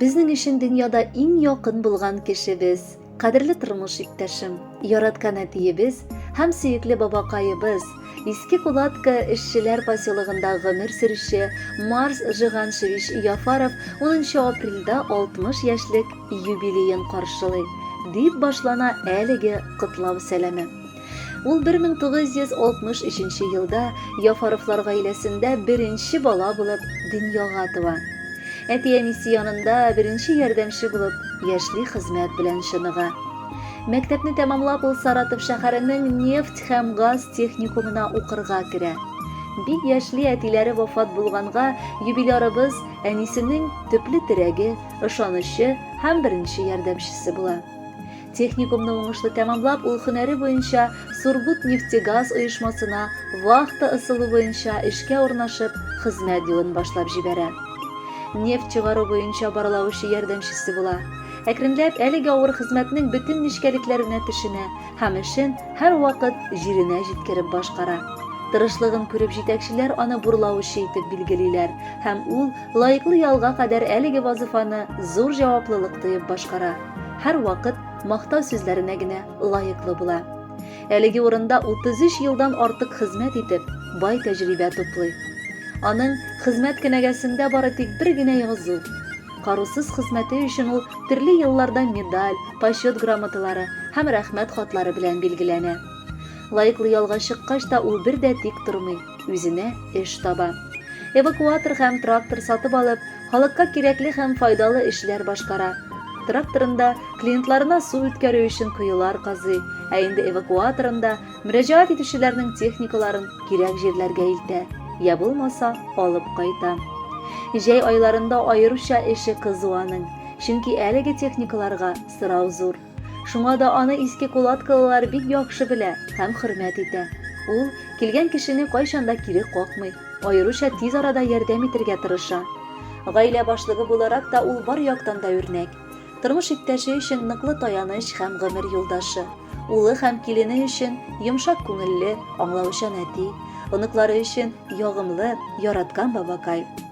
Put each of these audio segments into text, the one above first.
Безнең өчен дөньяда иң якын булган кешебез, кадерле тормыш иптәшем, яраткан әтиебез һәм сөекле бабакаебыз, Иске Кулатка эшчеләр поселогында гомер сөрүче Марс Жиганшевич Яфаров 10 апрельдә 60 яшьлек юбилеен каршылый, дип башлана әлеге котлау сәламе. Ул 1963 елда Яфаровлар гаиләсендә беренче бала булып дөньяга туа. Әти-әнисе янында беренче ярдәмче булып яшьли хезмәт белән чыныга. Мәктәпне тәмамлап ул Саратов шәһәренең нефть һәм газ техникумына укырга керә. Бик яшьли әтиләре вафат булганга юбилярыбыз әнисенең төпле терәге, ышанычы һәм беренче ярдәмчесе була. Техникумны уңышлы тәмамлап, ул һөнәре буенча Сургутнефтегаз оешмасына вахта ысулы буенча эшкә урнашып, хезмәт юлын башлап җибәрә. Нефть чыгару буенча барлаучы ярдәмчесе була. Әкренләп әлеге авыр хезмәтнең бөтен нечкәлекләренә төшенә һәм эшен һәрвакыт җиренә җиткереп башкара. Тырышлыгын күреп җитәкчеләр аны бурлаучы итеп билгелиләр һәм ул Лаеклы ялга кадәр әлеге вазыйфаны зур җаваплылык тоеп башкара, һәрвакыт мактау сүзләренә генә лаеклы була. Әлеге урында 33 елдан артык хезмәт итеп, бай тәҗрибә туплый. Аның хезмәт кенәгәсендә бары тик бер генә язу. Карусыз хезмәте өчен ул төрле елларда медаль, почет грамоталары һәм рәхмәт хатлары белән билгеләнә. Лаеклы ялга чыккач та ул бер дә тик тормый. үзенә эш таба. Эвакуатор һәм трактор сатып алып, халыкка кирәкле һәм файдалы эшләр башкара. Тракторында клиентларына су үткәрү өчен коелар казый, ә инде эвакуаторында мөрәҗәгать итүчеләрнең техникаларын кирәк җирләргә илтә, я булмаса алып кайта. Җәй айларында аеруча эше кызу аның, чөнки әлеге техникаларга сорау зур. Шуңа да аны иске кулаткалылар бик яхшы белә һәм хөрмәт итә. Ул, килгән кешене кайчан да кире какмый, аеруча тиз арада ярдәм итергә тырыша. Гаилә башлыгы буларак та ул бар яктан да үрнәк. Тормыш иптәше өчен ныклы таяныч һәм гомер юлдашы. Улы һәм килене өчен йомшак күңелле, аңлаучан әти. Оныклары өчен ягымлы, яраткан бабакай.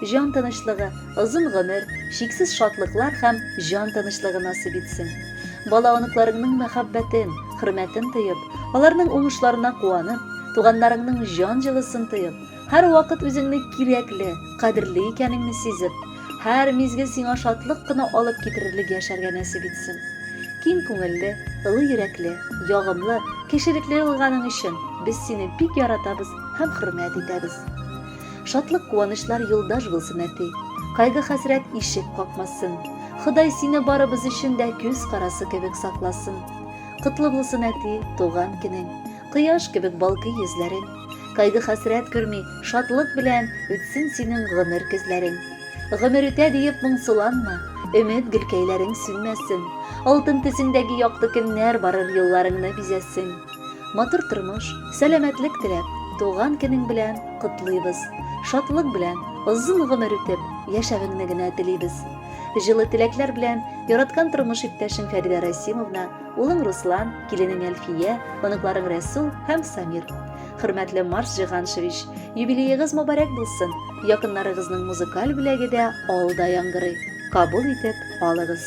Җан тынычлыгы, озын гомер, чиксез шатлыклар һәм җан тынычлыгы насыйп итсен. Бала-оныкларыңның мәхәббәтен, хөрмәтен тоеп, аларның уңышларына куанып, туганнарыңның җан җылысын тоеп, һәрвакыт үзеңне кирәкле, кадерле икәнеңне сизеп, һәр мизгел сиңа шатлык кына алып китерерлек яшәргә нәсыйп итсен. Киң күңелле, ылы йөрәкле, ягымлы, кешелекле булганың өчен без сине бик яратабыз һәм хөрмәт итәбез. Шатлык-куанычлар юлдаш булсын, әти. Кайгы-хәсрәт ишек какмасын. Ходай сине барыбыз өчен дә күз карасы кебек сакласын. Котлы булсын, әти, туган көнең. Кояш кебек балкый йөзләрең. Кайгы-хәсрәт күрми, шатлык белән үтсен синең гомер көзләрең. Гомер үтә диеп моңсуланма, өмет гөлкәйләрең сүнмәсен. Алтын төсеңдәге якты көннәр барыр юлларыңны бизәсен. Матур тормыш, сәламәтлек теләп, туган көнең белән котлыйбыз. Шатлык белән, озын гомер итеп, яшәвеңне генә телибез. Җылы теләкләр белән яраткан тормыш иптәшең Фәридә Расимовна, улың Руслан, киленең Әлфия, оныкларың Рәсул һәм Самир. Хөрмәтле Марс Җиганшевич, юбилеегыз мөбарәк булсын. Якыннарыгызның музыкаль бүләге дә алда яңгырый. Кабул итеп алыгыз.